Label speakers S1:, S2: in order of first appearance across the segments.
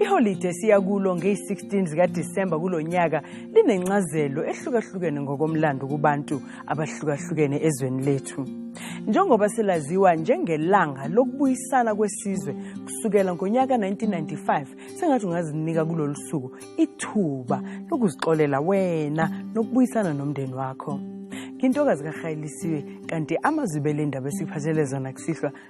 S1: Iholide siya kulo ngeyi-16 zikaDisemba kulo nyaka linencazelo ehlukahlukene ngokomlando kubantu abahlukahlukene ezweni lethu. Njengoba silaziwa njengelanga lokubuyisana kwesizwe kusukela ngonyaka 1995 sengathi ungazinika kulolu suku ithuba lokuzixolela wena nokubuyisana nomndeni wakho. Ngintokazi kaRhayilisiwe kanti amazwi belendaba esiphathele zona kusihlwa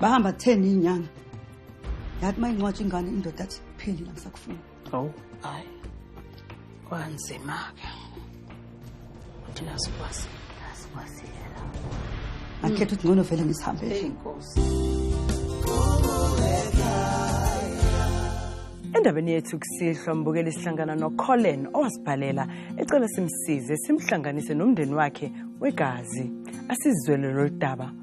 S2: bahamba kutheni inyanga yathi uma incwatsha ingane indoda athi phelile angisakufuni awu
S3: hayi kwanzima-ke thina sikwazi asikwaziyela
S2: akhetha ukuthi ngcono vele ngisihambele
S3: inkosi
S1: endabeni yethu kusihlwa mbukeli sihlangana nocolin owasibhalela ecela simsize simhlanganise nomndeni wakhe wegazi asizwele lolu daba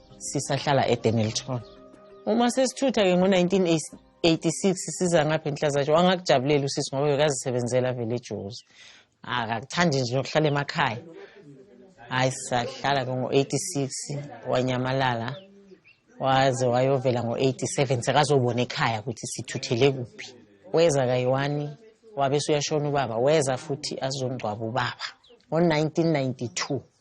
S4: sisahlala edenelton uma sesithutha-ke ngo-1986 siza ngapha enhlazatsho wangakujabulela usisi ngoba bekazisebenzela vele ejozi akakuthandi nje nokuhlala emakhaya hhayi sahlala-ke ngo-86 wanyamalala waze wayovela ngo-87 sekazobona ekhaya ukuthi sithuthele kuphi weza kayiwani wabe suyashona ubaba weza futhi azongcwaba ubaba ngo-1992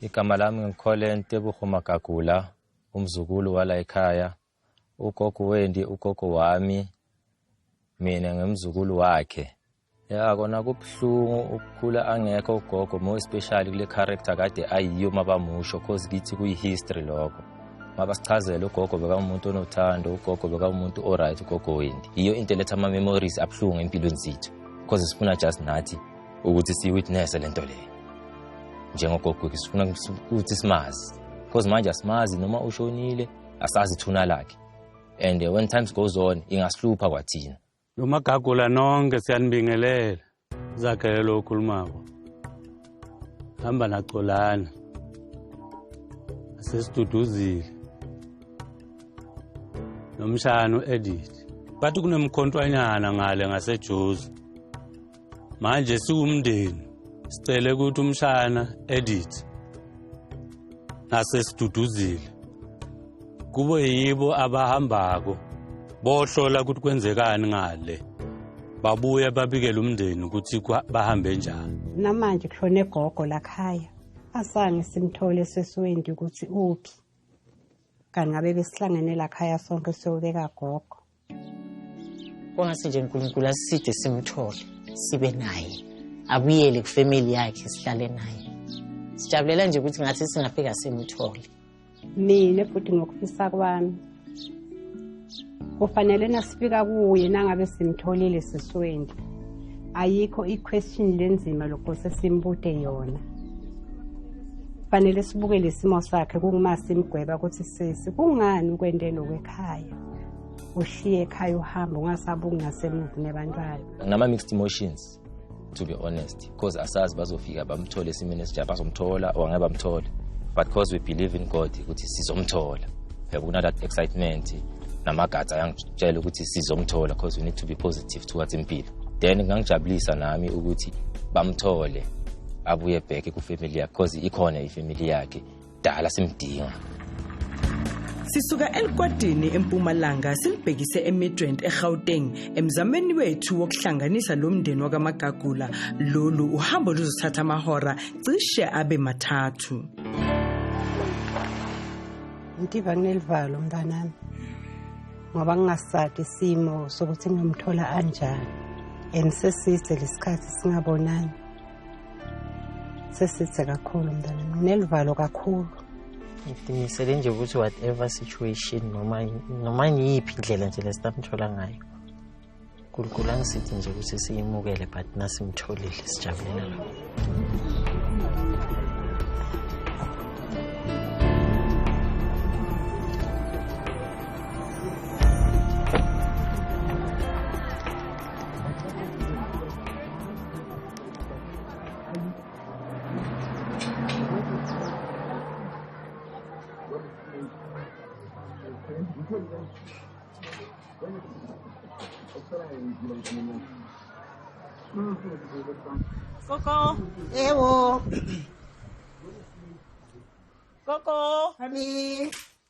S4: igama lami ngikhole
S5: ntebuho magagula umzukulu wala ekhaya ugogo wendi ugogo wami mina ngimzukulu wakhe ya kona kubuhlungu ukukhula angekho ugogo more especially kule character kade ayiyo mabamusho cause kithi kuyi-history lokho mabasichazele ugogo bekamuntu onothando ugogo bekamuntu o-right ugogo wendi yiyo into eletha ama-memories abuhlungu empilweni zethu cause sifuna just nathi ukuthi siyiwitnesse le nto le njengogogweki sifuna ukuthi simazi because manje asimazi noma ushonile asazi ithuna lakhe and uh, when times goes on ingasihlupha kwathina nomagagula
S6: nonke siyanibingelela zakhele lo okhulumako hamba nacolana asesiduduzile nomshana u-edit bathi kunemkhontwanyana ngale ngasejuzi manje siwumndeni sicele ukuthi umshana edit nasesiduduzile kube yibo abahambako bohlola ukuthi kwenzekani ngale babuye babikele umndeni ukuthi bahambe njani namanje kushone
S7: gogo lakhaya asange simthole sesiwendi ukuthi uphi kanti ngabe besihlangene lakhaya sonke siyobeka gogo
S4: kwangase nje unkulunkulu asiside simthole sibe naye abuyele kufamily yakhe sihlale naye sijabulela nje ukuthi ngathi singafika simthole mina
S7: futhi ngokufisa kwami kufanele nasifika kuye nangabe simtholile siswendi ayikho i-question lenzima lokho sesimbute yona fanele sibuke lesimo sakhe kunguma simgweba ukuthi sisi kungani ukwente lokwe ekhaya ushiye ekhaya
S5: uhamba
S7: ungasabe ukungasemuva nebantwana ngama-mixed
S5: emotions to be honest because asazi bazofika bamthole esimeni esinjani bazomthola or ngeke bamthole but because we believe in god ukuthi sizomthola yabo kunala excitement namagazi ayangitshela ukuthi sizomthola because we need to be positive towards impilo then kungangijabulisa nami ukuthi bamthole abuye bheke kufamily yakhe because ikhona ifamily yakhe dala simdinga
S1: Sisuka eLikwadini eMpumalanga silibhekise eMidrand eGauteng emzameni wethu wokuhlanganisa lo mndeni wakaMagagula lolu uhambo luzothatha amahora cishe abe mathathu
S7: Ngiba kunelivalo mntanami ngoba ngingasadi isimo sokuthi ngimthola anjani and seside lesikhathi singabonani sesithe kakhulu mntana nginelivalo kakhulu ngidimisele
S4: nje ukuthi whatever situation noma noma ngiyiphi indlela nje lesitamthola ngayo unkulunkulu angisithi nje ukuthi siyimukele but nasimtholile sijabulela lokho
S8: Coco. Ewo. Coco. Honey.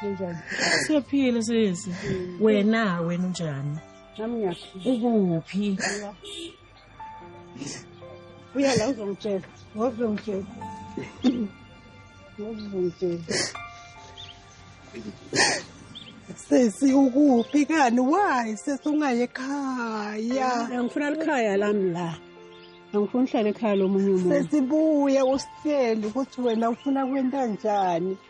S7: Kunjani? Siyaphila
S4: sisi. Wena wena unjani? Nami ngiyaphila.
S7: Ukuphi? Uya la uzongitshela. Ngozongitshela. Ngozongitshela.
S8: Sesi ukuphi kani? Why sesi ungaye ekhaya? Angifuna likhaya
S7: lami la. Angifuna uhlale ekhaya lomunye umuntu. Sesibuye
S8: usitshele ukuthi wena ufuna kwenta njani.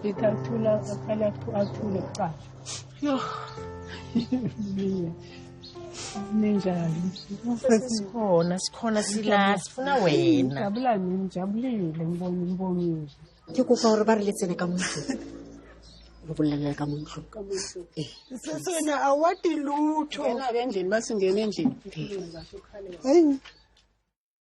S7: Ngithathula akhala athule kuqala. Yo. Ninjani?
S4: Sikhona, sikhona sila, sifuna wena. Ngijabula mina,
S7: ngijabulile ngibona umbongile. Ke kopa hore
S2: ba re letsene ka motho. Lo bolelela ka motho. Ka motho. Eh.
S8: Sesena awadi lutho. Yena ke endlini
S7: basingena endlini. Hayi.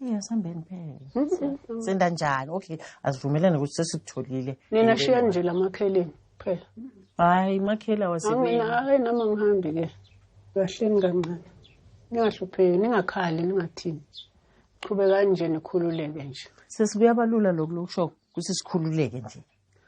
S7: Yes, hambeni
S4: phela. Senda njalo. Okay, asivumelane ukuthi sesikutholile. Nina shiyani nje
S7: lamakheleni phela. Hayi,
S4: makhela wasebenza. Mina hayi nami ngihambi
S7: ke. Kahleni kancane. Ningahlupheki, ningakhali, ningathini. Qhubekani nje nikhululeke nje.
S4: Sesibuyabalula
S7: lokho lokusho ukuthi
S4: sikhululeke nje.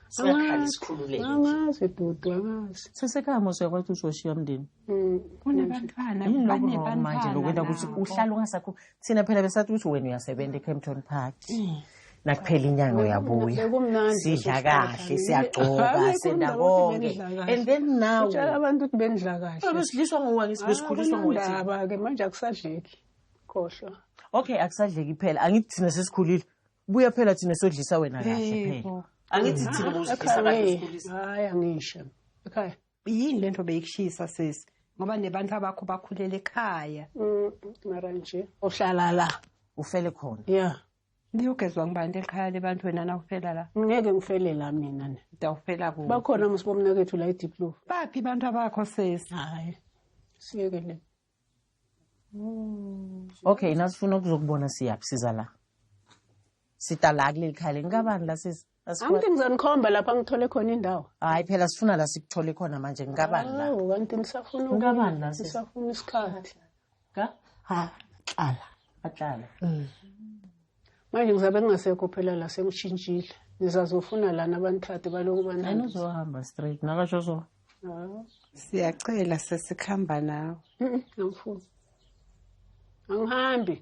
S4: singakhala sikhululeke angazi dudu
S3: angazi sesekhaya mose yakwathi
S4: uzoshiya mndeni mm, kunabantwana
S7: yini lokho wrong manje
S4: lokwenta ukuthi uhlala ungasakho thina phela besathi ukuthi wena uyasebenza ecampton park mm. nakuphela inyanga uyabuya sidla kahle siyagcoba senda konke and then now utshela abantu ukuthi bendidla
S3: kahle abesidliswa ngowangisi
S4: besikhuliswa ngowangisi-ke manje
S3: akusadleki khohlwa okay akusadleki
S4: phela angithi thina sesikhulile buya phela thina sodlisa wena kahle Hey, phela bo. angithi thina bowusihlisa kahle Ekhaya, usikhulisa hayi angisho
S3: ekhaya yini lento
S7: beyikushisa sesi ngoba nebantu abakho bakhulele ekhaya Mm, mara
S3: nje uhlala la ufele khona
S4: ya
S3: liyogezwa ngibani
S7: elikhaya lebantu wena nawufela la ngeke ngifele la
S3: mina ne dawufela ku bakhona
S7: musibomnakethu
S3: la ediplof baphi abantu abakho
S7: sesi hayi
S3: siyekele
S4: okay nasifuna ukuzokubona siyaphi siza la sita la kuleli khaya leli kabani la sisi angithi ngizonikhomba
S3: lapha ngithole khona indawo hayi phela sifuna la
S4: sikuthole khona manje ngikabani la awu kanti ngisafuna
S3: Ukabani la, sisi? ngisafuna
S4: isikhathi
S3: ka
S4: ha
S3: hlala ahlala manje ngizabe ngingasekho phela la sengishintshile nizazofuna lana abanithade baloku banani uzohamba straight
S4: nakasho so
S7: siyacela sesikhamba nawe
S3: angifuni angihambi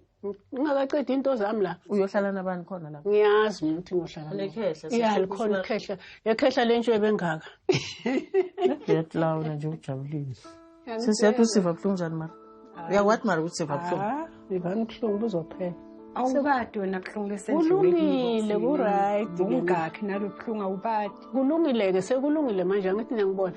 S3: ngingakaqedi into zami la uyohlala nabani khona
S4: lapho ngiyazi mina ukuthi ngiyohlala
S3: ya likhona
S4: ikhehla
S3: yekhehla le ntsho ebengaka
S4: nje ujabulile sisi yathi usiva buhlungu njani mara uyakwati mara ukuthi siva buhlungu Ah, ivani ubuhlungu
S3: buzophela awubadi wena
S7: buhlungu kulungile
S3: kuright bungakhi nalo
S7: buhlungu awubadi kulungile-ke
S3: sekulungile manje angithi niyangibona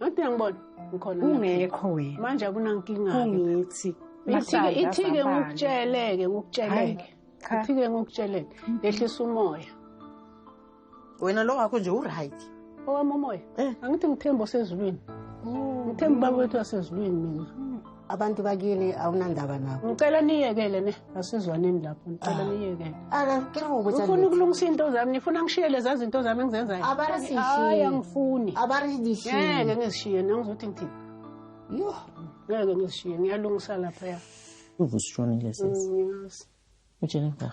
S3: angithi niyangibona ngikhona ungekho wena
S7: manje akunankinga
S3: ungithi
S7: ithike ithike
S3: ngikutsheleke ngikutsheleke ithike ngikutsheleke yehlisa umoya
S4: wena lo wakho nje uright owami umoya
S3: eh. angithi ngithemba osezulwini oh. ngithemba ubaba wethu wasezulwini mina abantu bakini
S8: awunandaba nabo ngicela niyekele ne
S3: asizwaneni lapho ngicela ah. niyekele ngifuna
S8: ukulungisa iy'nto zami
S3: ngifuna ngishiye leza zinto zami engizenzayo abarisishiye angifuni abarisishiye ngeke
S8: ngizishiye nangizothi
S3: ngithini yo
S8: ngeke
S3: ngizishiye ngiyalungisa lapha ya uvusishonile
S4: sisi mm,
S3: ujennifer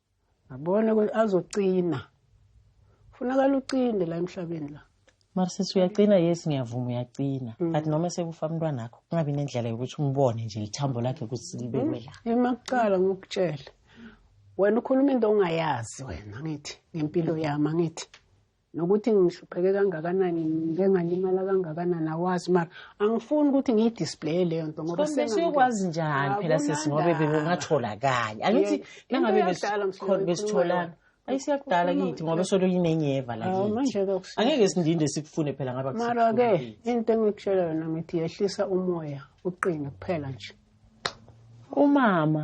S4: ngabona
S3: ukuthi azocina funakala ucinde la emhlabeni la mara sisi uyacina
S4: yes ngiyavuma uyacina mm. but noma sekufa umntwana akho kungabi nendlela yokuthi umbone nje ithambo lakhe ukuthi libekwe la mm. emakuqala ngokutshela
S3: wena ukhuluma into ongayazi wena ngithi ngempilo yami angithi nokuthi ngihlupheke kangakanani ngike ngalimala kangakanani awazi mara angifuni ukuthi ngiyidisplaye leyo nto ngoba siyokwazi njani
S4: phela sisi ngoba bekungatholakali angithi nangabe besitholana ayi siyakudala kithi ngoba solo yinenyeva la angeke sindinde sikufune phela ngaba mara-ke into
S3: engikutshela yona ngithi yehlisa umoya uqine kuphela nje
S4: umama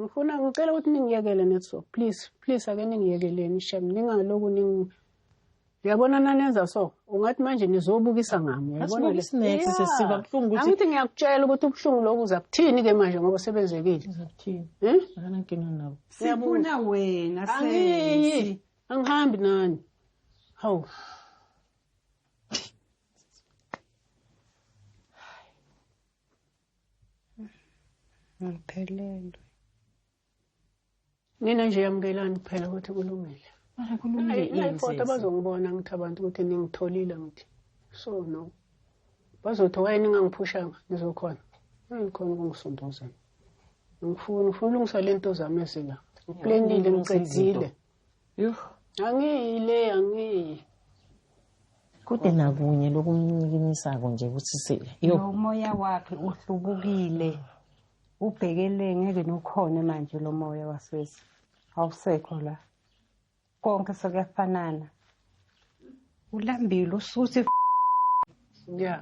S4: ngifuna
S3: ngicela ukuthi ningiyekele netso please please ake ningiyekeleni shem ningaloku ning uyabona nanenza so ungathi manje nizobukisa ngami angithi
S4: ngiyakutshela ukuthi
S3: ubuhlungu loku uza kuthini ke manje ngoba sebenzekile
S4: eh? sifuna wena
S7: angihambi
S3: nani hawu
S7: ngiphelelwe
S3: nina nje yamukelani kuphela ukuthi kulungile mara kulungile
S4: ifoto bazongibona
S3: ngithi abantu ukuthi ningitholile ngithi so no bazothi waye ningangiphushanga ngizokhona ngikhona ukungisondozela ngifuna ngifuna ulungisa lento zami ezila ngiplenile ngiqedile Yuh.
S4: Angiyi le angiyi. Kude nakunye lokunyikinyisako nje kusisile. Yo. Umoya
S7: wakhe uhlubukile. Ubhekele ngeke nokhona manje lo moya waswezi. Awusekho la. Konke sekuyafanana. ulambile usuthi
S3: yeah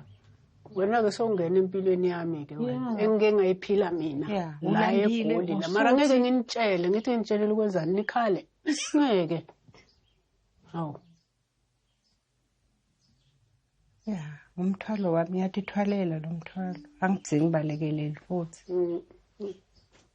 S3: wena-ke sowungena empilweni yami-ke wena engike ngayiphila mina la egoli la mara
S7: ngeke
S3: nginitshele ngithi nginitshelele ukwenzani nikhale ngeke hawu
S7: ya umthwalo wami ngiyatithwalela lo mthwalo angidzingi balekeleli futhi mm, mm.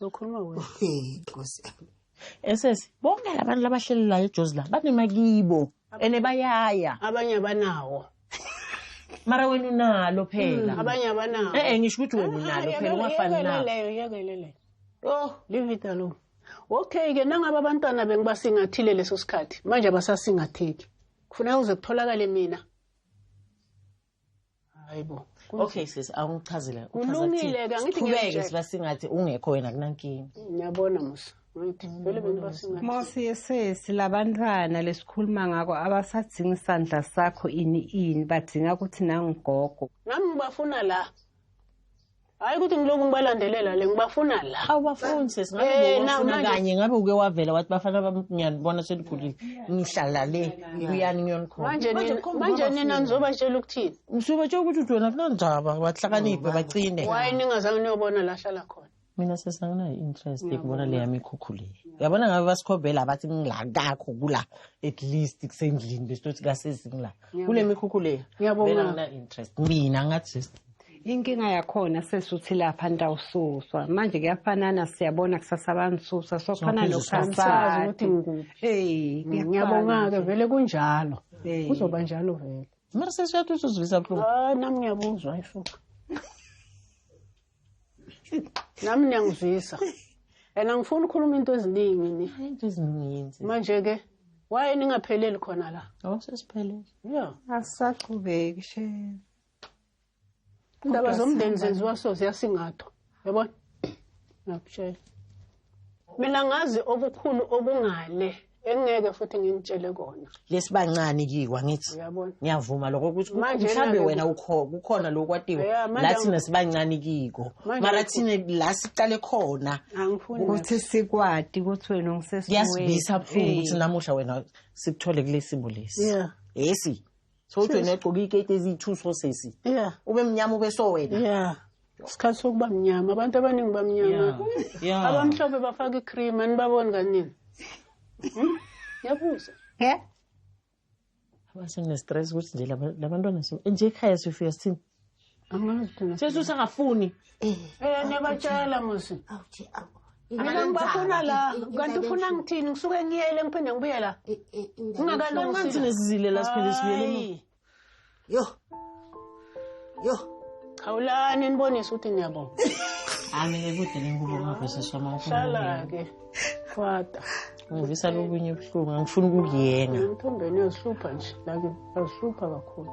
S3: Ukhuluma wena.
S8: Nkosi yami.
S4: Esesi bonke labantu labahlelelayo eJozi la banema kibo ene bayaya. Abanye abanawo. Mara wena unalo phela. Hmm, abanye abanawo. Eh eh
S3: ngisho ukuthi wena unalo
S4: ah, phela ungafani na. Yekeleyo yekelele.
S3: Oh, leave it alone. Okay ke nangaba abantwana bengibasingathile leso sikhathi manje abasasingatheki. Kufuneka uze kutholakale mina. hayibo okay sis
S4: awungichazile kulungile ke angithi
S3: ngeke sibasingathi ungekho
S4: wena kunankinga ngiyabona
S3: musa Mosi yesesi
S7: labantwana lesikhuluma ngako abasadzinga isandla sakho ini ini badinga ukuthi nangigogo nami ngibafuna
S3: la Hayi ukuthi ngilokhu ngibalandelela le ngibafuna la. Awu bafuni sisi ngabe
S4: Eh, na- ngokufuna manje- kanye ngabe uke wavela
S3: wathi
S4: bafana bami ngiyanibona seligulile ngihlala le kuyani ngiyonikhona. Manje Manje nina ukhomba manje kwabafuni.
S3: nina nizobatshela ukuthini? Ngisuke tshela ukuthi uthi wena
S4: kunandaba bahlakaniphe bacine. Why ningazange niyobona
S3: la hlala khona? Mina sisi anginayo
S4: interest yokubona le yami ikhukhu le. Yabona ngabe basikhombela abathi ngila kakho kula at least kusendlini besitothi kasisi ngila. kule mikhukhu le ngiyabonga
S3: interest
S4: mina ngathi inkinga
S7: yakhona sesuthi lapha ntawususwa manje kuyafanana siyabona kusasa abanisusa sokhana nokusasazi
S3: ukuthi
S7: ngikuphi eyi
S3: mm, ngiyabonga-ke vele kunjalo kuzoba njalo vele mara sesiyathuthi
S4: uzivisa buhlungu ah, nami ngiyabuzwa
S3: ifuka nami niyangizwisa and angifuni ukukhuluma into eziningi ni into eziningi
S4: manje ke
S3: waye ningapheleli khona la oh sesiphelele
S4: yeah
S3: asisaqhubeki
S7: she indaba
S3: zomndeni zenziwa so ziyasingathwa yabona ngiyakutshela mina ngazi okukhulu okungale engeke futhi nginitshele kona lesibancane kiwa
S4: ngithi ngiyavuma lokho
S3: ukuthi
S4: mhlawumbe wena kukhona
S3: lokho
S4: kwatiwa la thina
S3: sibancane
S4: kiko mara thina
S3: la
S4: siqale khona ukuthi
S3: sikwati
S7: ukuthi wena ungisesiyasibisa
S4: buhlungu ukuthi namuhla wena sikuthole kulesimo lesi yesi so uthi wena egqoke iketi eziyi-two sources yeah ube mnyama
S3: ube so
S4: wena yeah isikhathi
S3: sokuba mnyama abantu abaningi bamnyama abamhlophe
S4: bafaka
S3: icream anibaboni kanini hmm? ngiyabuza yeah
S4: abasengine-stress ukuthi nje labantwana nje ekhaya sifika sithini
S3: sesi usangafuni
S4: um eh,
S3: niyabatshela musi
S8: mina
S3: ngibafuna la kanti ufuna ngithini ngisuke ngiyele ngiphinde ngibuye la ungakalonganthi
S4: nesizile la siphinde sibuyele
S3: yo
S8: yo khawulani
S3: nibonise ukuthi niyabonga ami ke
S4: kude nengubo ngavesiswa mawuhlala-ke
S3: fada ngivisa
S4: lokunye ubuhlungu angifuni ukukuyenga emthombeni uyazihlupha
S3: nje lake uyazihlupha kakhulu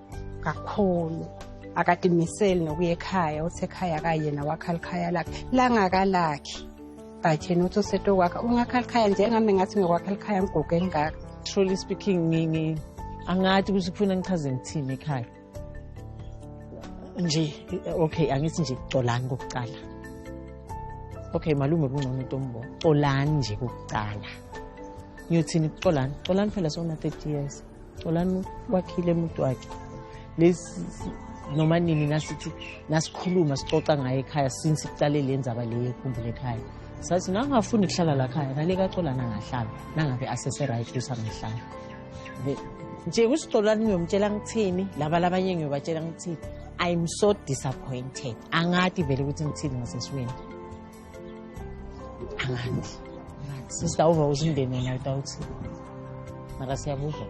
S7: kakhulu akadimiseli nokuya ekhaya uthi ekhaya kayena wakhala ikhaya lakhe langakalakhi but yena uthi usetokwakha ungakhala ikhaya njengami ngathi ngikwakhala ikhaya ngigugu elingaka truly speaking
S4: ngingi angathi ukuthi kufuna ngichaze ngithini ekhaya nje okay angithi nje colani kokuqala okay malume kungcono into ombo colani nje kokuqala ngiyothini kuxolani xolani phela sona 30 years Xolani wakhile umuntu wakhe lesi noma nini nasithi nasikhuluma sixoxa ngaye ekhaya since iqale le ndzaba le yekhumbule ekhaya sathi nangafuni kuhlala la khaya nale kaxolana ngahlala nangabe asese-right kusangahlala nje kusixolani ngiyomtshela ngithini laba labanye ngiyobatshela ngithini i'm so disappointed angati vele ukuthi ngithini ngasesiweni angazi sister uva uzindeni wena utawuthi mara siyabuzwa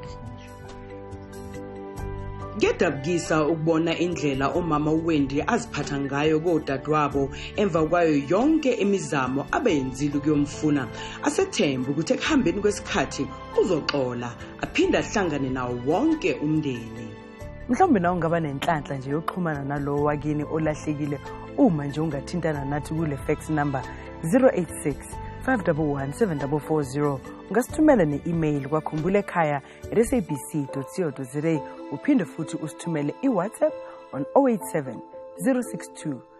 S1: Ngedabukisa ukubona indlela umama uWendi aziphatha ngayo kodadewabo emva kwayo yonke imizamo abeyenzile ukuyomfuna. Asethembe ukuthi ekuhambeni kwesikhathi uzoxola aphinde ahlangane nawo wonke umndeni. mhlawumbe nawe ungaba nenhlanhla nje yokuxhumana nalowo wakini olahlekile uma nje ungathintana nathi kule fax number 086 511 ungasithumela ne-email kwakhumbula ekhaya at sabc co za uphinde futhi usithumele iwhatsapp on 087 062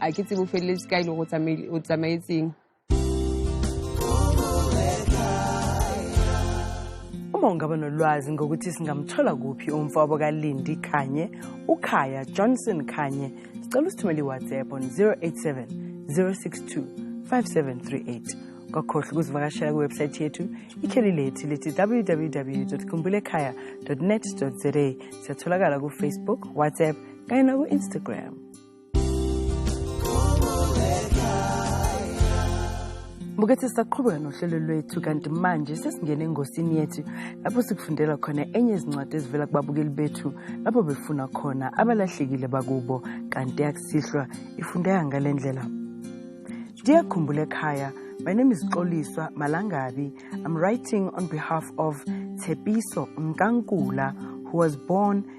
S9: a ke tsebo feleletse ka e le go o tsamaetseng
S1: uma ungaba nolwazi ngokuthi singamthola kuphi umfowabo kalindi khanye ukhaya johnson khanye sicela usithumele iwhatsapp on 087 062 5738 kwakhohle ukuzivakashela kwiwebsayithi yethu ikheli lethu lithi www kumbulekhaya net za siyatholakala kufacebook whatsapp kanye naku-instagram Bukethi sisaqhubeka nohlelo lwethu kanti manje sesingena engosini yethu lapho sikufundela khona enye izincwadi ezivela kubabukeli bethu lapho befuna khona abalahlekile bakubo kanti yakusihlwa ifundeka ngale ndlela ndiyakhumbula ekhaya my name is xoliswa malangabi i'm writing on behalf of tshepiso mkankula who was born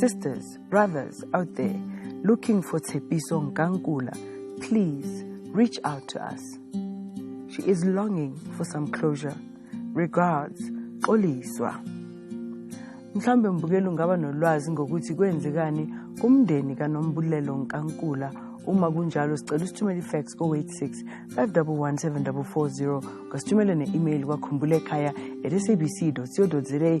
S1: Sisters, brothers out there looking for Tshepiso Nkankula, please reach out to us. She is longing for some closure. Regards, Xoliswa. Mhlambe mbukeli ungaba nolwazi ngokuthi kwenzekani kumndeni kanombulelo Nkankula uma kunjalo sicela usithumele ifax ko-86 511 740 ngasithumele ne-email kwakhumbule ekhaya at sabc co za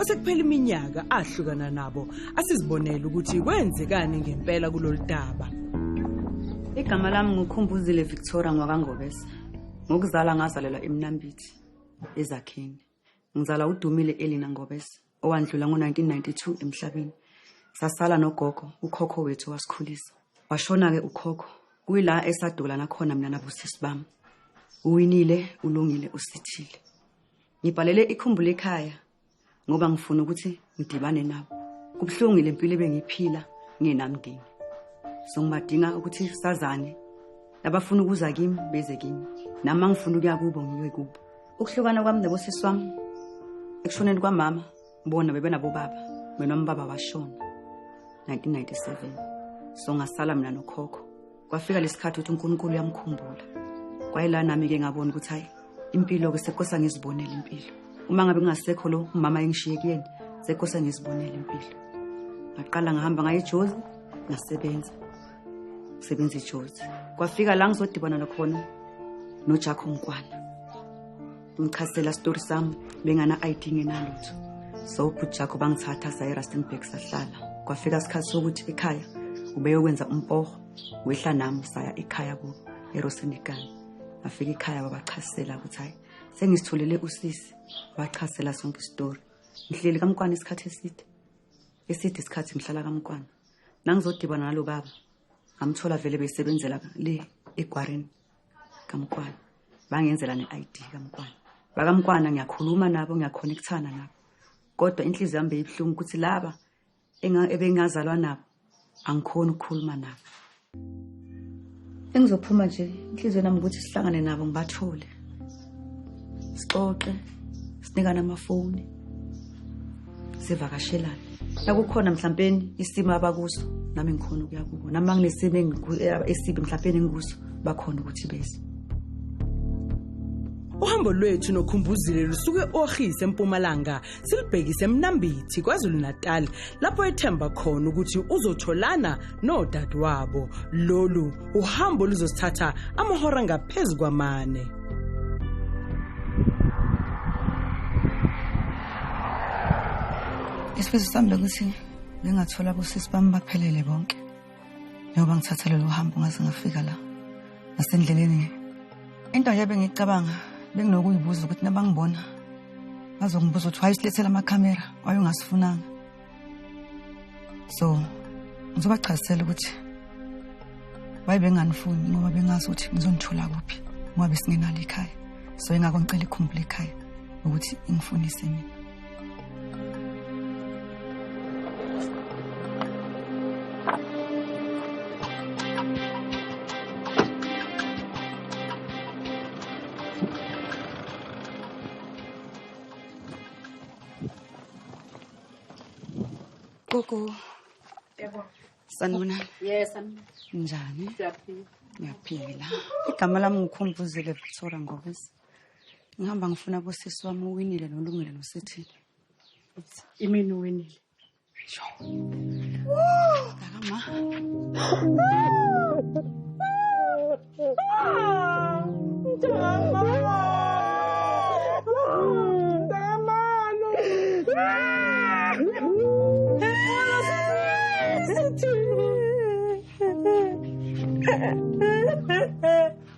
S1: osekuphela iminyaka ahlukana nabo asizibonele ukuthi kwenzekani ngempela kulolu daba
S2: igama lami ngukhumbuzile victoria ngwakangobese ngokuzala ngazalelwa emnambithi ezakheni ngizala udumile elina ngobese owandlula ngo-1992 emhlabeni sasala nogogo ukhokho wethu wasikhulisa washona-ke ukhokho kuyila esadula nakhona mina nabusisi bami uwinile ulungile usithile ngibhalele ikhumbula ekhaya ngoba ngifuna ukuthi ngidibane nabo kubuhlungu le mpilo ebengiyiphila ngingenamndeni so ngibadinga ukuthi sazane labafuna ukuza kimi beze kimi nami mangifuna ukuya kubo ngiyoyi kubo ukuhlukana kwami nabosisi wami ekushoneni kwamama bona bebenabobaba mina umbaba washona 1997 so ngasala mina nokhokho kwafika lesikhathi ukuthi uNkulunkulu uyamkhumbula kwayila nami ke ngabona ukuthi hayi impilo ke sekosa ngizibonela impilo uma ngabe kungasekho lo umama engishiye kuyena sekosa ngizibonela impilo ngaqala ngihamba ngaye ejozi ngasebenza ngisebenza ejozi kwafika la ngizodibana nakhona nojakho mkwana ngichazela story sami bengana ID ngenalutho so ubhuti jakho bangithatha saya eRustenburg sahlala kwafika isikhathi sokuthi ekhaya ubeyokwenza umpoho wehla nami saya ekhaya ku eRosendikan afika ekhaya babachasela ukuthi hayi sengisitholele usisi wachasela sonke istory ngihleli kamkwana isikhathi eside eside isikhathi ngihlala kamkwana nangizodibana nalo baba ngamthola vele besebenzela le egwarini kamkwana bangenzela ne-id kamkwana bakamkwana ngiyakhuluma nabo ngiyakhonekthana nabo kodwa inhliziyo yami beyibuhlungu ukuthi laba ebengingazalwa nabo angikhoni ukukhuluma nabo engizophuma nje inhliziyo nami ukuthi sihlangane nabo ngibathole sixoxe sinikana amafoni sivakashelane nakukhona mhlawumpeni isimo abakuso nami ngikhona ukuya kubo nami banginesimo esibi mhlawumpeni engikuso bakhona ukuthi bese
S1: uhambo lwethu nokhumbuzile lusuke e-ohis empumalanga silibhekise eMnambithi KwaZulu-Natal lapho ethemba khona ukuthi uzotholana nodadewabo lolu uhambo luzosithatha amahora ngaphezu kwamane
S2: isifiso sami bekuthi bengathola abosisi bami baphelele bonke njengoba ngithatha lolu hambo ngaze ngafika la nasendleleni into nje bengicabanga benginokuyibuza ukuthi nabangibona bazongibuza ukuthi wayesilethela amakhamera wayengasifunanga so ngizobachazisela ukuthi wayebenganifuni ngoba bengazi ukuthi ngizonithola kuphi ngoba besingenalo ikhaya so ingakho ngicela ikhumbule ikhaya ukuthi ingifunise mina Gogo. Yebo.
S7: Sanibona.
S2: Yes, sanibona.
S7: Njani?
S2: Siyaphila.
S7: Ngiyaphila.
S2: Igama lami ngikhumbuze Levitsora Ngobese. ngihamba ngifuna bosisi wami uwinile nolungile nosithi
S7: imini uwinile
S2: sho kakama Yeah.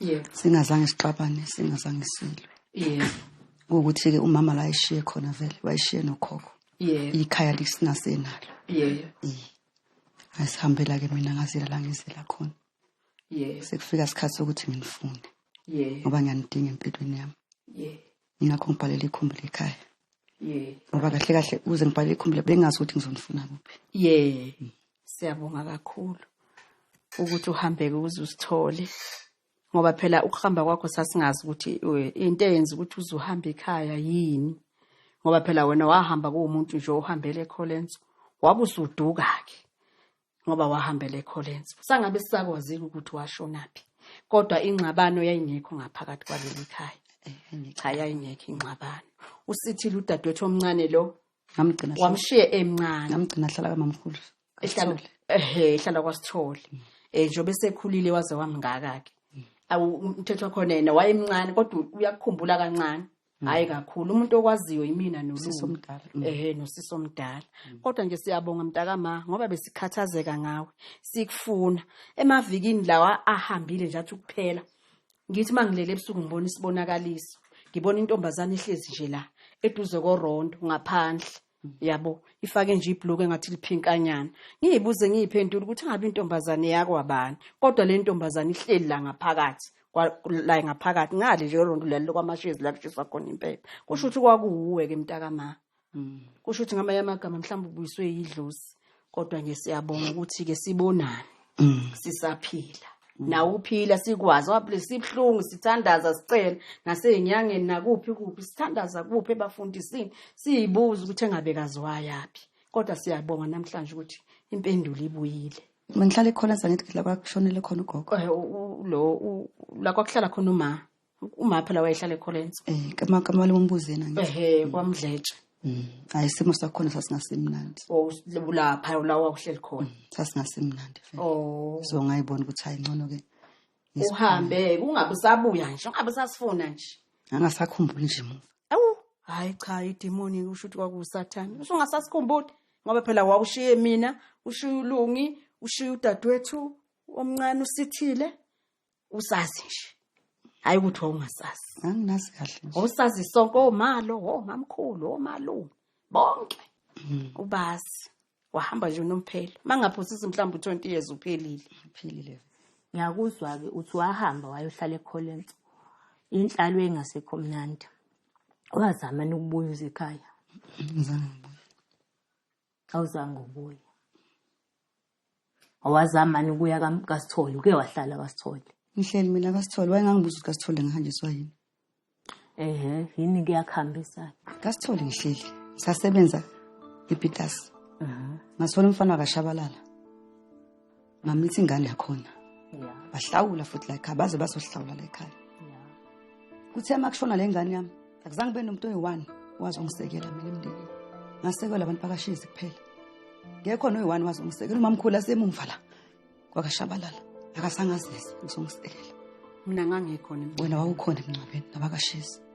S2: yebo
S7: singazange sixabane
S2: singazange silwe yebo
S7: ukuthi ke
S2: umama la eshiye khona vele wayishiye nokhokho yebo ikhaya
S7: lisinasenalo yebo
S2: asihambela ke mina ngazela la ngizela khona yebo
S7: sekufika isikhathi
S2: sokuthi nginifunde yebo ngoba
S7: ngiyanidinga
S2: empilweni yami yebo
S7: yingakho ngibhalela
S2: ikhumbi lekhaya yeah ngoba
S7: kahle kahle
S2: uze ngibhalela ikhumbi le bengazi ukuthi ngizonifuna kuphi yeah
S7: siyabonga kakhulu ukuthi uhambeke uze usithole ngoba phela ukuhamba kwakho sasingazi ukuthi eh, into eyenza ukuthi uze uhambe ekhaya yini ngoba phela wena wahamba kuwumuntu nje ohambele ekholenso wabe usuduka-ke ngoba wahambela ecollins sangabe sisakwazile ukuthi washonaphi kodwa ingxabano yayingekho ngaphakathi kwaleli khaya eh, cha yayingekho ingxabano usithile udadewethu omncane lo ngamgcina wamshiye
S2: emncane
S7: ngamgcina hlala kamamkhulu
S2: ehlala ehe
S7: ehlala kwasithole mm. eh njobe sekhulile waze wamngaka ke mm. awu umthetho khona yena wayemncane kodwa uyakukhumbula kancane Mm. hayi kakhulu umuntu okwaziyo yimina nolumdala mm. ehe
S2: nosisi omdala
S7: mm. kodwa nje siyabonga mntakama ngoba besikhathazeka ngawe sikufuna emavikini lawa ahambile nje athi ukuphela ngithi mangilele ebusuku ngibona isibonakaliso ngibona intombazana ihlezi nje la eduze korondo ngaphandle yabo ifake nje ibhluke ngathi liphinkanyana ngiyibuze ngiyiphendula ukuthi ngabe intombazane yakwabani kodwa le ntombazane ihleli la ngaphakathi la ngaphakathi ngale nje yolonto lelo kwamashezi la kushiswa khona impepha kusho ukuthi kwakuwuwe ke mntakama hmm. kusho ukuthi ngamanye amagama mhlawumbe ubuyiswe yidlosi kodwa nje siyabonga ukuthi ke sibonane mm. sisaphila mm. nawe uphila sikwazi waphile sibhlungu sithandaza sicela nasezinyangeni nakuphi kuphi sithandaza kuphi ebafundisini siyibuza ukuthi engabe kaziwayaphi kodwa siyabonga namhlanje ukuthi impendulo ibuyile mangihlale khona
S2: sangithi la kwakushonele khona ugogo eh, lo
S7: la kwakuhlala khona uma uma phela wayehlala ecollins um eh, kamali wombuze
S2: yena ehe kwamdletshe Mm.
S7: hayi isimo
S2: sakhona sasingasimnandi oh, lapha
S7: la wawuhleli khona mm, sasingasimnandi
S2: oh. so ngayibona ukuthi hayi ngcono ke uhambe
S7: kungabe usabuya nje ungabe usasifuna nje angasakhumbuli nje
S2: muva awu hayi cha
S7: idemoni usho ukuthi kwakusathane usho ungasasikhumbuli ngoba phela wawushiye mina ushiye ulungi ushiye udadewethu omncane usithile usazi nje hayi ukuthi wawungasazi anginazi kahle
S2: nje usazi sonke
S7: omalo omamkhulu omalume bonke mm. ubazi wahamba nje unomphelo mangaphosisi mhlawumbe u20 years uphelile uphelile ngiyakuzwa
S10: ke uthi wahamba wayohlala ekholenso inhlalo engasekho mnandi wazama nokubuya ekhaya ngizangibuya awuzange
S2: ubuye
S10: awazamani ukuya kasithole uke wahlala kasithole ngihleli mina
S2: kasithole wayengangibuza ukuthi kasithole ngihanjiswa yini ehe
S10: yini kuyakuhambisa kasithole ngihleli
S2: ngisasebenza epitasi ngathola umfana wakashabalala mamlitha ingane yakhona bahlawula futhi la ekhaya baze bazohlawula la ekhaya kuthe uma kushona le ngane yami akuzange kube nomuntu oyi-one wazongisekela mina emndenini ngasekelwa abantu bakashizi kuphela ngekho noyi-one wazongisekela umamkhulu asemumva la kwakashabalala akasangazisi ngizongisekela mina
S8: ngangikhona wena wawukhona emncwabeni
S2: nabakashizi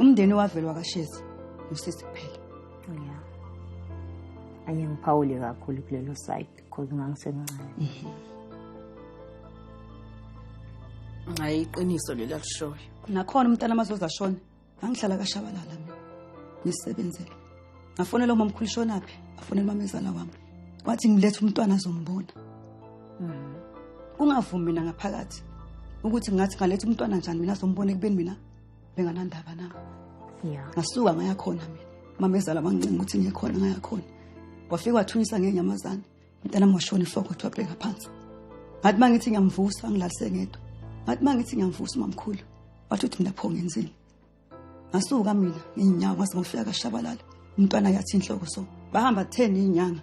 S2: umndeni owavele wakashezi usisi kuphela ya
S10: anye ngiphawule kakhulu kulelo side because ngangisemncane mhm. hayi
S8: iqiniso leli alishoyo nakhona umntana
S2: amazoza ashona ngangihlala kashabalala mina ngisebenzele ngafonela uma mkhulu shonaphi afonela umamezala wami wathi ngilethe umntwana azombona mhm. kungavumi mina ngaphakathi ukuthi ngathi ngaletha umntwana njani mina azombona ekubeni mina benganandaba na ya ngasuka ngaya khona mina mama ezala wangincenga ukuthi ngiye khona ngaya khona wafika wathunyisa ngenyamazane mntana mwashona ifoko wathi wabheka phansi ngathi uma ngithi ngiyamvusa ngilalise ngedwa ngathi uma ngithi ngiyamvusa umamkhulu wathi uthi mina pho ngenzile ngasuka mina ngiyinyawo ngase ngofika kashabalala umntwana yathi inhloko so bahamba 10 inyanga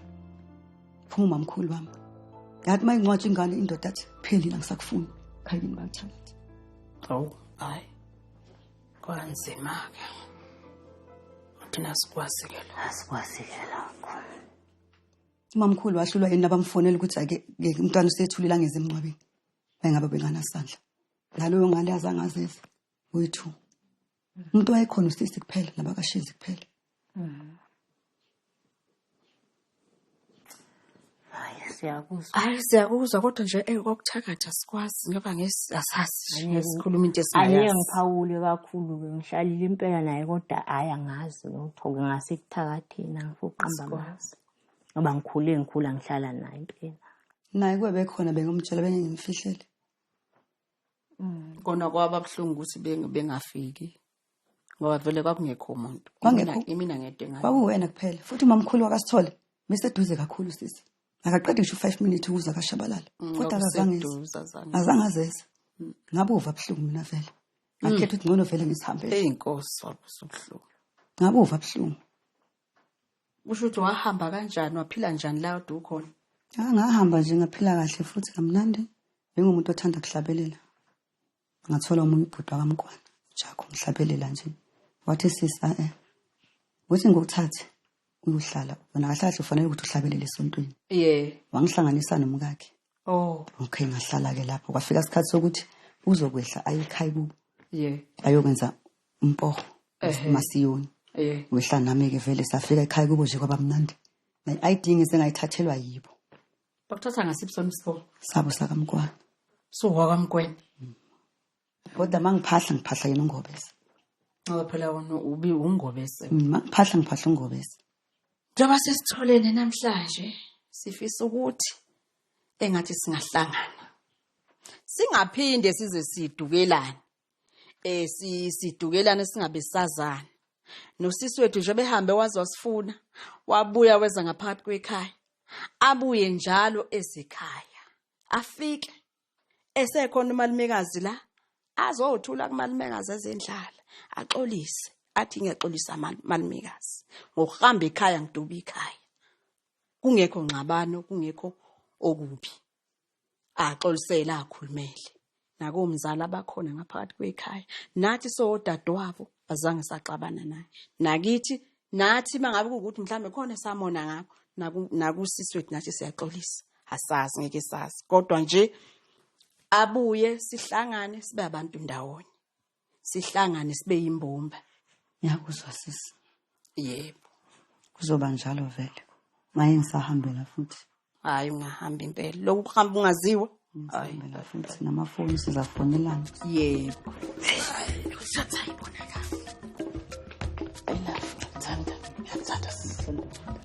S2: phuma umamkhulu wami ngathi uma ingcwatsha ingane indoda athi phelile angisakufuni khayini bakuthanda awu
S8: hayi kwanzima-ke thina sikwazike la asikwazike lakho
S2: umamkhulu wahlulwa yini abamfonela ukuthi ake ke umntwana usethulile angeze emncwabeni wayengabe benganasandla naloyo ngane azangazizi uyi-two umuntu wayekhona usisi kuphela nabakashezi kuphela
S8: siyakuzwa hayi siyakuzwa kodwa nje eyi kwakuthakatha sikwazi ngoba ngesasazi nje sikhuluma into esingayazi ayiye ngiphawule kakhulu
S10: ke ngihlalile impela naye kodwa hayi angazi lutho ngingase kuthakathina ngifuqamba amazi ngoba ngikhule ngikhula ngihlala naye impela naye kube
S2: bekhona bengomtshela bengengimfihlele Mm.
S8: Kona kwaba buhlungu ukuthi bengafiki. Ngoba vele kwakungekho umuntu. Kwangekho imina ngedwa engathi. Kwakuwena kuphela. Futhi
S2: umamkhulu wakasithole bese duze kakhulu sisi. Akaqedi ngisho 5 minutes ukuza kashabalala. Mm, Kodwa akazange. Azange azeze. Mm. Ngabe uva buhlungu mina vele. Ngakhetha ukuthi ngcono vele ngisihambele. Hey inkosi wabusubuhlungu.
S8: Ngabe uva
S2: buhlungu.
S8: Usho ukuthi wahamba kanjani waphila njani la kade ukhona? Ah, ngahamba nje
S2: ngaphila kahle futhi kamnandi njengomuntu othanda kuhlabelela. Ngathola omunye ubhuti wakamkwana Jakho ngihlabelela nje. Wathi sisi a eh. Uthi ngokuthathe uyohlala wena kahle kahle ufanele ukuthi uhlabelele esontweni. Yeah. Wangihlanganisa nomkakhe. Oh. Okay ngahlala ke lapho kwafika isikhathi sokuthi uzokwehla ayikhaya kubo. Yeah. Ayokwenza umpo masiyoni wehla nami ke vele safika ekhaya kubo nje kwabamnandi ne-id ngisengayithathelwa yibo bakuthatha
S8: ngasiphi sona isikole sabo sakamkwana suwakamkweni
S2: mm. kodwa uma ngiphahla ngiphahla yena ungobese ngoba phela
S8: wona ubi ungobese uma mm, ngiphahla ngiphahla
S2: ungobese njengoba
S8: sesitholene namhlanje sifisa ukuthi engathi singahlangana singaphinde size sidukelane eh si sidukelana singabe sazana nosisi wethu nje behambe waze wasifuna wabuya weza ngaphakathi kwekhaya abuye njalo ezikhaya afike esekhona umalumekazi la azothula kumalumekazi ezendlala axolise athi ngiyaxolisa malumekazi ngokuhamba ekhaya ngiduba ikhaya kungekho ngxabano kungekho okubi axolisele akhulumele nakomzali abakhona ngaphakathi kwekhaya nathi sodadewabo azange saxabana naye nakithi nathi mangabe ukuthi mhlambe khona esamona ngakho naku nakusisi wethu nathi siyaxolisa asazi ngeke sazi kodwa nje abuye sihlangane sibe abantu ndawonye sihlangane sibe yimbumba ngiyakuzwa
S2: sisi yebo
S8: kuzoba
S2: njalo vele maye ngisahambela futhi hayi ungahamba
S8: impela lokhu kuhamba ungaziwa ngisahambela
S2: futhi namafoni
S8: sizafonelana yebo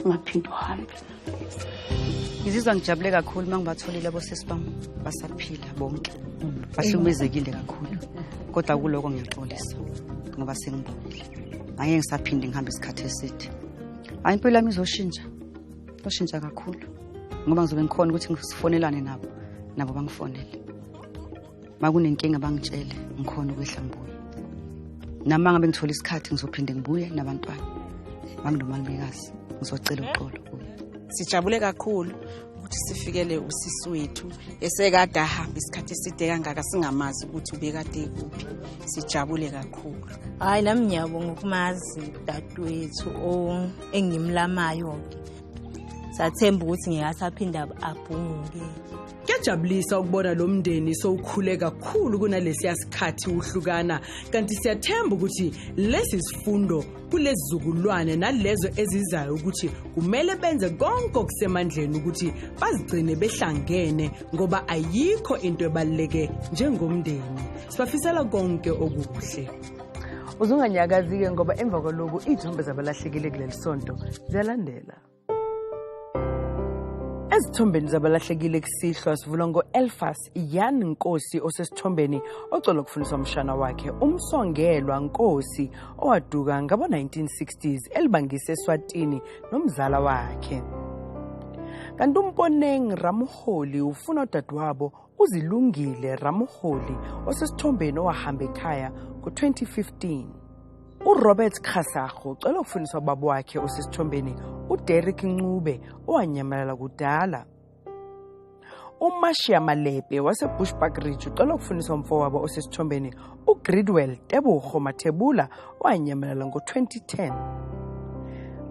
S11: ungaphinde uhambe
S2: ngizizwa ngijabule kakhulu uma ngibatholile abosisi bam basaphila bonke bahlukumezekile kakhulu kodwa kuloko ngiyaxolisa ngoba sengibonile angeke ngisaphinde ngihambe isikhathi eside hayi impilo yami izoshintsha izoshintsha kakhulu ngoba ngizobe ngikhona ukuthi ngifonelane nabo nabo bangifonele makunenkinga bangitshele ngikhona ukwehla ngibuye nami mangabe ngithola isikhathi ngizophinde ngibuye nabantwana manginomangikazi ngizocela uxolo kuye sijabule kakhulu
S4: ukuthi sifikele usisi wethu esekade ahamba isikhathi eside kangaka singamazi ukuthi ubekade kuphi sijabule kakhulu hhayi nami
S10: ngiyabonga ukumazi dadewethu engimlamayo-ke sathemba ukuthi ngeke asaphinde abhunguke Kuyajabulisa
S1: ukubona lo mndeni sowukhule kakhulu kunalesiya sikhathi uhlukana kanti siyathemba ukuthi lesi sifundo kulezizukulwane nalezo ezizayo ukuthi kumele benze konke okusemandleni ukuthi bazigcine behlangene ngoba ayikho into ebaluleke njengomndeni sibafisela konke okuhle
S12: uzunganyakazi-ke ngoba emva kwaloku iy'thombe zabalahlekile kuleli sonto ziyalandela ezithombeni zabalahlekile kusihlwa sivula ngo-elfas yan nkosi osesithombeni ocola ukufundisa umshana wakhe umsongelwa nkosi owaduka ngabo-1960s elibangise eswatini nomzala wakhe kanti umponeng ramholi ufuna udadewabo UZilungile Ramoholi osesithombeni owahamba ekhaya ngo-2015. URobert Khasago ucela ukufundisa ubaba wakhe osesithombeni uDerrick Ncube owanyamalala kudala. UMashiya Malepe waseBushbuck Ridge ucela ukufundisa umfowabo osesithombeni uGridwell Tebogo Mathebula owanyamalala ngo-2010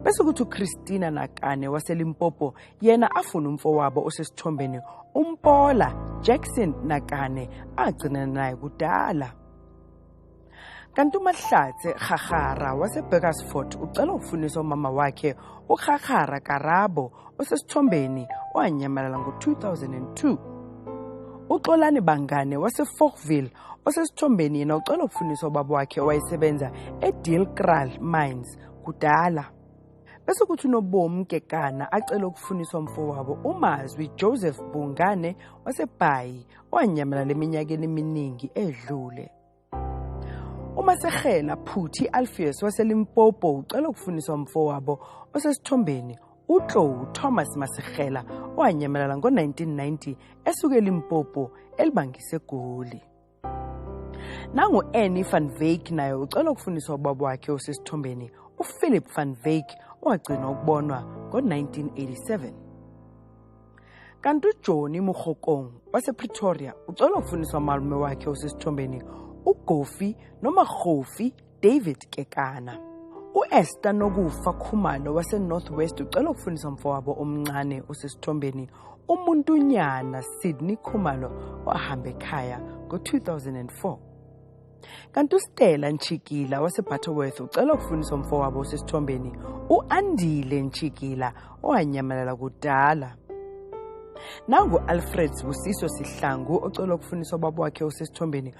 S12: bese kuthi uChristina Nakane waseLimpopo yena afuna umfowabo osesithombeni umpola jackson nakane agcina naye kudala kanti umahlatse rharhara wasebeckersford ucela ukufunisa umama wakhe urharhara karabo osesithombeni owanyamalala ngo-2002 uxolani bangane waseforkville osesithombeni yena ucela ukufunisa ubaba wakhe owayesebenza edeal kral mines kudala bese kuthi unobomi gegana acele ukufuniswa mfowabo umazwi joseph bungane wasebhayi owanyamalala eminyakeni eminingi edlule umasehela phuthi alfius waselimpopo ucela ukufuniswa mfowabo osesithombeni utlou thomas masehela owanyamalala ngo-1990 esuke elimpopo elibangise egoli nangu-annie van veik naye ucela ukufundiswa ubaba wakhe osesithombeni uphilip van veik owagcinwa ukubonwa ngo-1987 kanti ujoni murhokong wasepretoria ucela ukufundiswa umalume wakhe osesithombeni ugofi noma rhofi David Kekana. U-Esther Nokufa Khumalo waseNorth West ucela ukufundisa umfowabo omncane osesithombeni umuntunyana Sydney Khumalo ohamba ekhaya ngo-2004. Kanti uStella Ntshikila waseButterworth ucela ukufundisa umfowabo osesithombeni u-Andile Ntshikila owanyamalala kudala. Nangu-Alfred Busiso Sihlangu ocela ukufundisa ubaba wakhe osesithombeni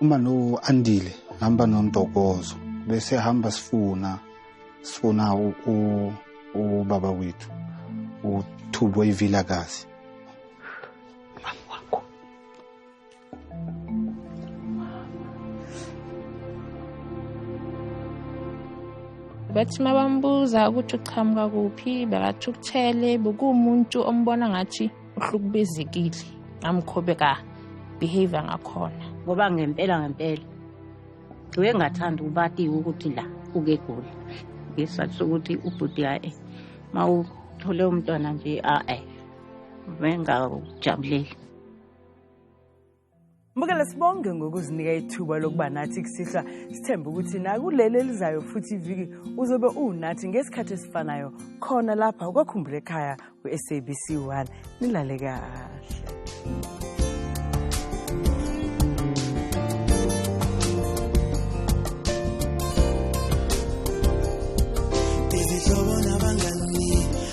S13: uma no andile hamba nontokozo bese hamba sifuna sifuna ubaba wethu uthubwe ivilakazi
S14: bathi uma bambuza ukuthi uqhamuka kuphi bekathi ukuthele bekuwumuntu ombona ngathi uhlukubezekile ngamkhobe ka behavior ngakhona ngoba ngempela
S15: ngempela ngiwe ngathanda ukubatiwe ukuthi la uke gula ngesizathu sokuthi ubhuti yae uma uthole umntwana nje a-e bengawujabuleli
S12: Mbukele sibonge ngokuzinika ithuba lokuba nathi kusihlwa sithembe ukuthi nakuleli elizayo futhi iviki uzobe uwunathi ngesikhathi esifanayo khona lapha kwakhumbula ekhaya kwi-sabc 1 nilale kahle